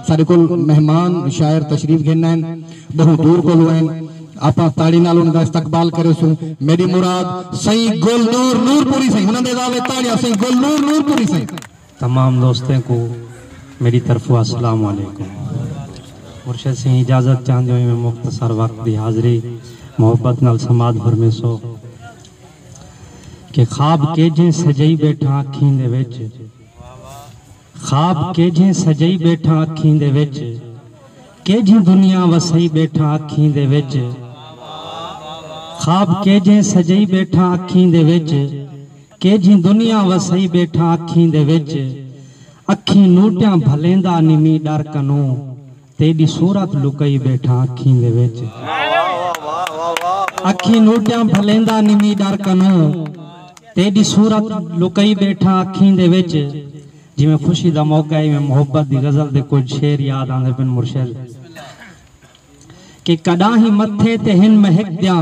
ساڈے کول مہمان شاعر تشریف گھن آئن بہوں دور کولوں آئن آپاں تاڑی نال انہاں دا استقبال کریسوں میڈی مراد سئیں گل نور نور پوری سئیں انہاں دے علاوہ تاڑیاں سئیں گل نور نور پوری سئیں تمام دوستیں کو میڈی طرفو السلام علیکم مرشد سئیں اجازت چاہندے ہوئے میں مختصر وقت دی حاضری محبت نال سماعت فرمیسو کہ خواب کیجھیں سجائی بیٹھاں اکھیں دے وچ۔ خواب کیجھیں سجئی ٻیٹھاں اکھیں دے وچ کیجھیں دنیا وسئی ٻیٹھاں اکھیں دے وچ خواب کیجھیں سجئی ٻیٹھاں اکھیں دے وچ کیجھیں دنیا وسئی ٻیٹھاں اکھیں دے وچ اکھیں نوٹیاں بھلیندا نی مینہ ݙر کنوں تیݙی صورت لکئی ٻیٹھاں اکھیں دے وچ۔ اکھیں نوٹیاں بھلیندا نمی ݙر کنوں۔ تیݙی صورت لکئی ٻیٹھاں اکھیں دے وچ۔ جیویں خوشی دا موقع ہے ایویں محبت دی غزل دے کجھ شعر یاد آندے پن مرشد کہ کݙاہیں متھے تے ہن مہک دیاں۔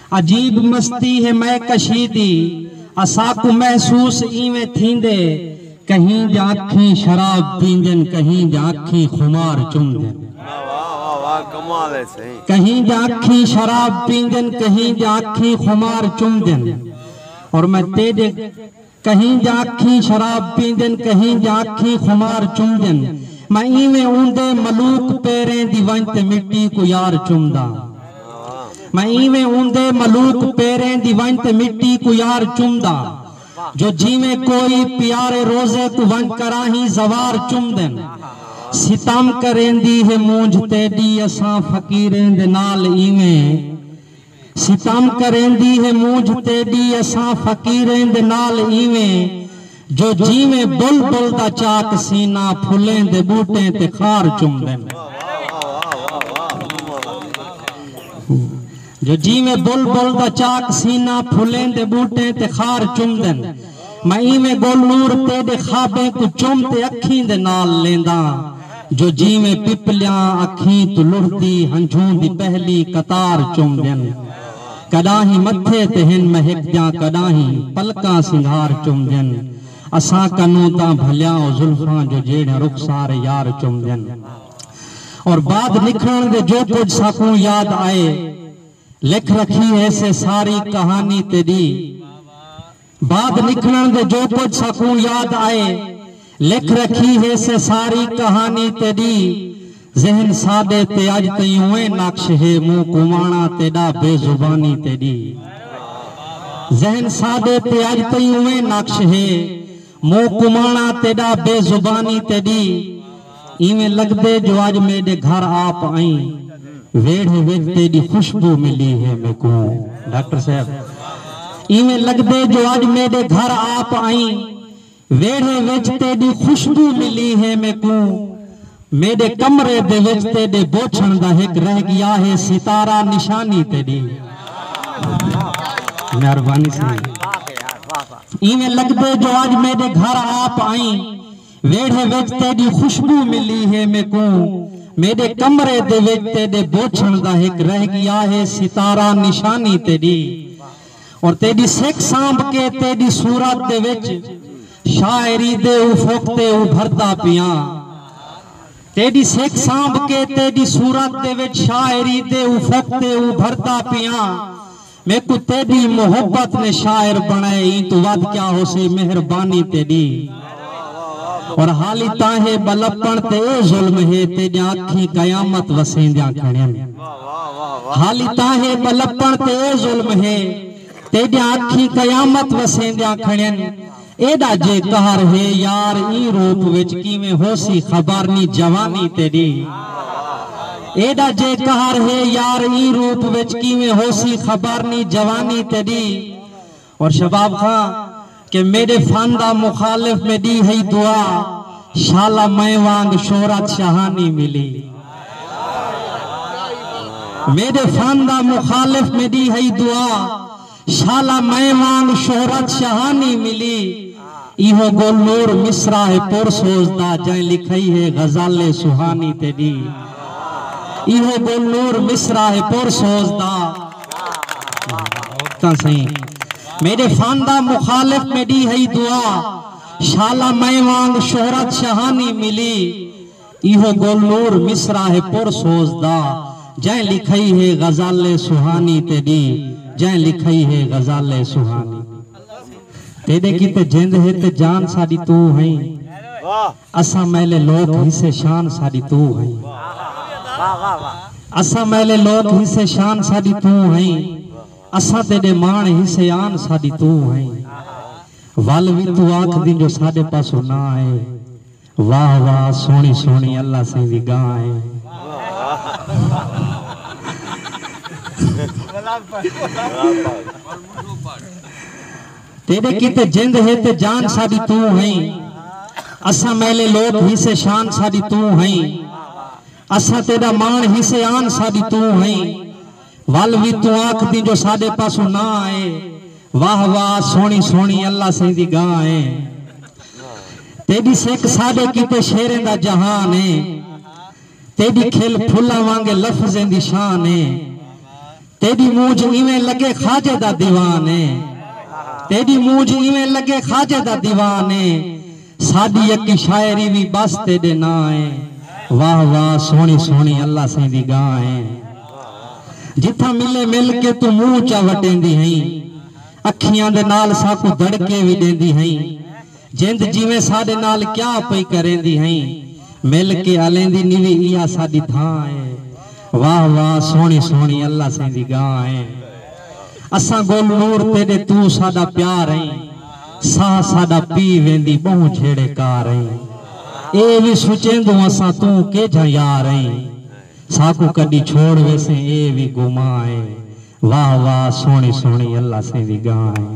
عجیب مستی ہے مئے کشی دی اساکوں محسوس اینویں تھیندے کہیں جاں اکھیں شراب پیندن کہیں جاں اکھیں خمار چمدن کہیں جاں اکھیں شراب پیندن کہیں جاں اکھیں خمار چمدن اور میں تیڈے کہیں دے اکھیں شراب پیندن کہیں دے اکھیں خمار چمدن میں ایویں اوندے ملوک پیریں دی ونج تے مٹی کوں یار چمداں میں ایویں اوندے ملوک پیریں دی ونج تے مٹی کوں یار چمداں جو جیویں کوئی پیارے روزے کوں ونج کراہیں زوار چمدن ستم کریندی ہے مونجھ تیڈی اساں فقیریں دے نال ایویں ستم کریندی ہے مونجھ تیݙی اساں فقیریں دے نال اینویں جو جینویں بلبل دا چاک سینہ پھلیں دے ٻوٹیں تے خار چمدن جو جینویں بلبل دا چاک سینہ پھلیں دے ٻوٹیں تے خار چمدن میں اینویں گل نور تیݙے خوابیں کوں چم تے اکھیں دے نال لینداں جو جیویں پپلیاں اکھیں توں لڑھدی ہنجھوں دی پہلی قطار چم دین کڈاہیں متھے تے ہن مہک دیاں کڈاہیں پلکاں سنگھار چم دین اساں کنوں تاں بھلیاں او زلفاں جو جیڑھیاں رخسار یار چم دین اور بعد نکھڑن دے جو کجھ ساکوں یاد آئے لکھ رکھی ہے سے ساری کہانی تیڈی بعد نکلن دے جو کجھ ساکوں یاد آئے لکھ رکھی ہے سے ساری کہانی تیڈی ذہن ساڈے تے اج تئیں اوئیں نقش ہے موں کمانا تیڈا بے زبانی تیڈی ذہن ساڈے تے اج تئیں اوئیں نقش ہے موں کمانا تیڈا بے زبانی تیڈی اینویں لگدے جو اج میڈے گھر آ پئیں ویڑھے وچ تیڈی خوشبو ملی ہے میکوں ڈاکٹر صاحب اینویں لگدے جو اج میڈے گھر آ پئیں ویڑھے وچ تیڈی خوشبو ملی ہے میکوں میڈے کمرے دے وچ تیڈے بوچھن دا ہک رہ گیا ہے ستارہ نشانی تیڈی مہربانی سی اینویں لگدے جو اج میڈے گھر آ پئیں ویڑھے وچ تیݙی خوشبو ملی ہے میکوں میݙے کمرے دے وچ تیݙے بوچھݨ دا ہک رہ ڳیا ہے ستارہ نشانی تیݙی اور تیݙی سک سانبھ کے تیݙی صورت دے وچ شاعری دے افق تے ابھردا پیاں تیݙی سک سانبھ کے تیݙی صورت دے وچ شاعری دے افق تے ابھردا پیاں میکوں تیڈی محبت نے شاعر بنڑائے ایں توں ودھ کیا ہوسی مہربانی تیڈی اور حالی تاہے بلپن تے اے ظلم ہے تیڈیاں اکھیں قیامت وسیندیاں کھڑین حالی تاہے بلپن تے اے ظلم ہے تیڈیاں اکھیں قیامت وسیندیاں کھڑین ایڈا جے قہر ہے یار ایں روپ وچ کیویں ہوسی خبر نی جوانی تیڈی ایڈا جے قہر ہے یار ایں روپ وچ کیویں ہوسی خبر نی جوانی تیڈی اور شباب خاں کہ میڈے فن دا مخالف میں ڈی ہئی دعا شالا میں وانگ شہرت شہانی ملی میڈے فن دا مخالف میں ڈی ہئی دعا شالا میں وانگ شہرت شاہانی ملی ایہو گل نور مصرع ہے پر سوز دا جئیں لکھئی ہے غزل ہے سہانی تیڈی ایہو گل نور مصرع ہے پر سوز دا تاں سہی میڈے فن دا مخالف میڈی ہئی دعا شالا میں وانگ شہرت شاہانی ملی ایہو گل نور مصرع ہے پر سوز دا جئیں لکھئی ہے غزل سوہانی تیݙی جئیں لکھئی ہے غزل سوہانی تیݙے کیتے جند ہے تے جان ساݙی توں ہئیں اساں میلے لوک حصے شان ساݙی توں ہئیں اساں میلے لوک حصے شان ساݙی توں ہئیں اساں تیݙے ماݨ حصے آن ساݙی توں ہئیں ول وی توں آکھدیں جو ساݙے پاسوں ناں اے واہ واہ سوہنی سوہنی اللہ سئیں دی گاں اے۔ تیڈے کیتے جند ہے تے جان ساڈی توں ہئیں اساں میلے لوک ہی سے شان ساڈی توں ہئیں اساں تیڈا مان ہی سے آن ساڈی توں ہئیں ول وی توں آکھدیں جو ساڈے پاسوں نہ آئے واہ واہ سوہنی سوہنی اللہ سئیں دی گاں اے تیڈی سک ساڈے کیتے شعریں دا جہان اے تیڈی کھل پھلاں وانگے لفظیں دی شان اے تیڈی مونجھ ایویں لگے خواجے دا دیوان اے تیڈی مونجھ ایویں لگے خواجے دا دیوان اے ساڈی یکی شاعری وی بس تیڈے ناں اے۔ واہ واہ سوہنی سوہنی اللہ سئیں دی گاں اے۔ جتھاں ملے مل کے توں منہ چا وٹیندی ہئیں۔ اکھیاں دے نال ساکوں دڑکے وی ڈیندی ہئیں۔ جند جیویں ساڈے نال کیا پئی کریندی ہئیں۔ مل کے ہلیندی نیوی ایہا ساڈی دھاں اے۔ واہ واہ سوہنی سوہنی اللہ سئیں دی گاں اے۔ اساں گل نور تیݙے توں ساݙا پیار ایں ساہ ساݙا پی ویندی ٻہوں جھیڑے کار ایں اے وی سچیندوں اساں توں کیجھاں یار ایں ساکوں کݙی چھوڑ ویسیں اے وی گمان ایں واہ واہ سوہݨی سوہݨی اللہ سئیں دی ڳاں ایں۔